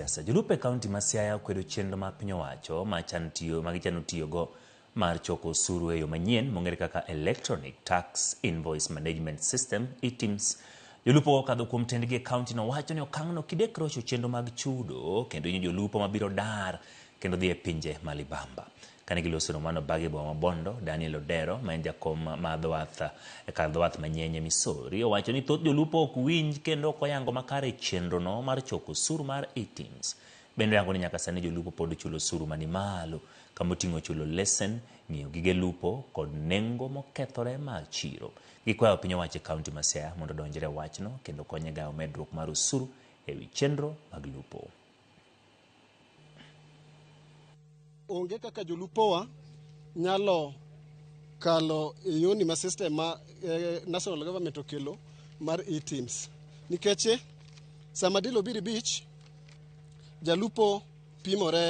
Siasa. Jolupo e kaunti ma Siaya okwedo chenro ma piny owacho ma chan tiyo ma gichano tiyogo mar choko osuru e yo manyien mong'ere kaka Electronic Tax Invoice Management System, ETIMS. Jolupo kokadho kuom tendgi e kauntino wacho ni okang'no kidek rocho chenro mag chudo kendo hinyo jolupo mabiro dar kendo dhi e pinje ma libamba. Kane giloso romono bag e boma ma Bondo, Daniel Odero ma en jakom ma dho wath e kar dho wath ma Nyenye, Missouri owacho ni thoth jolupo ok winj kendo ok oyango makare chenro no mar choko osuru mar ITIMS. Bende oyango ni nyaka sani jolupo pod chulo osuru mani malo kama oting'o chulo lesen, ng'iewo gige lupo kod nengo mokethore mar chiro. Gikwayo piny owacho e kaunti ma Siaya mondo odonjre e wachno kendo konye gayo medruok mar osuru ewi chenro mag lupo. Onge kaka jolupowa nyalo kalo e yoni ma system ma eh, national government okelo mar e-teams nikech eh, sama dil obiri beach jalupo pimore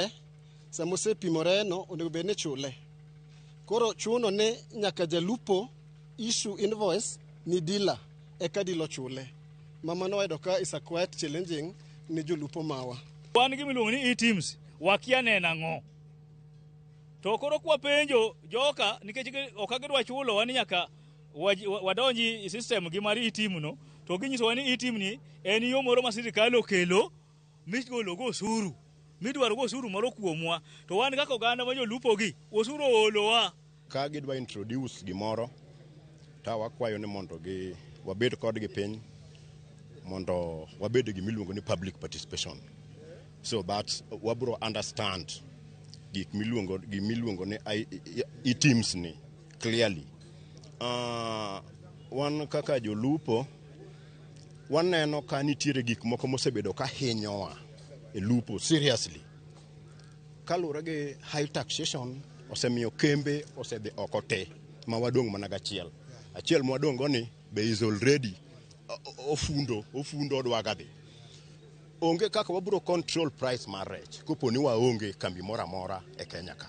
sama osepimore no onego bed ni chule koro chuno ni nyaka jalupo issue invoice ni dealer eka dilo chule. Mama no wayudo ka is a quite challenging ne jolupo mawa. Wan gi miluongo ni e-teams wakia ne nang'o. To koro kwa penjo joka nikech ok agidwa chulo wan nyaka wadonji system gi mar e-team no to ginyisowa ni e-team ni en yo moro ma sirkal okelo migologo osuru midwarogo osuru moro kuomwa to wan kaka oganda ma jolupogi osuru oolowa Ka gidwa introduce gimoro to wakwayo ni mondo gi wabed kodgi piny mondo wabed e gimiluongo ni public participation so that wabro understand gik miluongo gimiluongo ni I- I- I- teams ni clearly Ah, wan kaka jolupo waneno ka nitiere gik moko mosebedo ka hinyowa e lupo seriously Kaluwore gi high taxation osemiyo kembe osedhi oko te ma wadong' mana gachiel. Achiel ma wadong' go ni be is already o- o- ofundo ofundo odwaga dhi. Onge kaka wabiro control price mar rech kopo ni waonge kambi moro amora e Kenya ka.